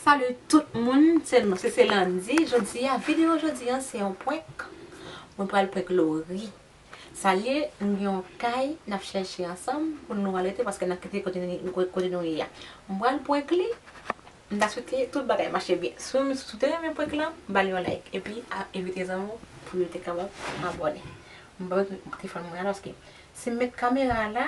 Salut tout moun se nou se se Landy jodia video jodi an se yon prank mwen pral prank Laurie sa liye nou gen yon kay nap chèche ansanm pou nou al rete paske nap kite kote nou ye a mwen pral prank li m ta swete tout bagay mache byen si w te renmen prank lan bal yon like epi envite zanmi w pou yo te kapab abòne m pa met telefòn mwen la paske si m met kamera la.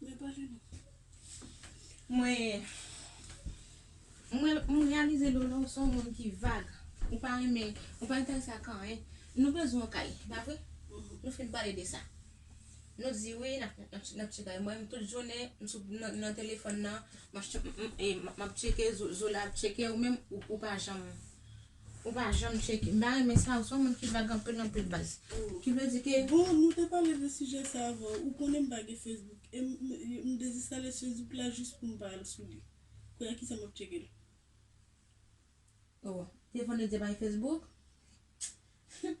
Mwen pale non. Mwen Mwen m reyalize Lolo ou se yon moun ki vag Ou pa renmen Ou pa enterese ak anyen Nou bezwen yon kay e pa vre Nou fin pale de sa Nou di wi n ap chèche kay Mwen menm tout jounen m sou nan telefòn nan M ap chèche M ap chèche Zola ap chèche Ou menm ou pa janm Ou pa janm cheke. M pa renmen sa, ou son moun ki vag anpil anpil baz. Ki vle di ke. Bon nou te pale de sijè sa avan ou konnen m pa gen Facebook e m dezinstalè Facebook la jis pou m pa al sou li kounye a kisa m ap tcheke l. Oh telefòn yo di yo pa gen Facebook? Humm.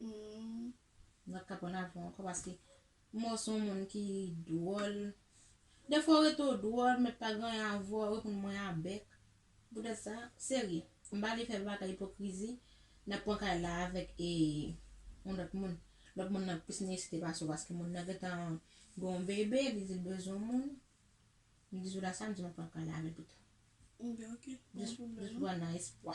Humm wap kapon avèw ankò paske mò son moun ki dwòl defwa ou rete ou dwòl met pa gen anyen avèw ou reponn mwen a bèk poutèt sa serye m pa vle fè bagay ipokrizi nap pran kay la avèk e yon lòt moun lòt moun nan plis nesesite pase w paske moun nan gentan gen yon bebe li di l bezwen yon moun m di jouda sa m di map pran kay la avèl pito jis pran nan espwa.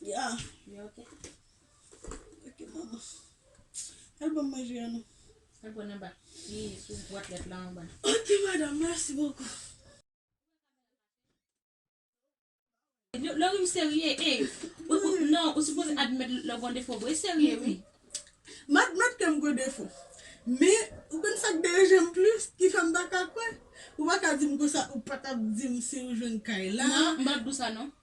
Ya ya ok ok manman al banm manje an non. Al pran anba li sou bwat lèt la anba. Ok madame merci beaucoup. Lorim serye eeh non ou sipoze admèt lè w gon defo vre serye wi. M admèt ke m gen defo men ou konn sak deranje m plis ki fè m paka kwè ou paka di m konsa ou patap di m si ou jwenn kay la. Non m pap di w sa non.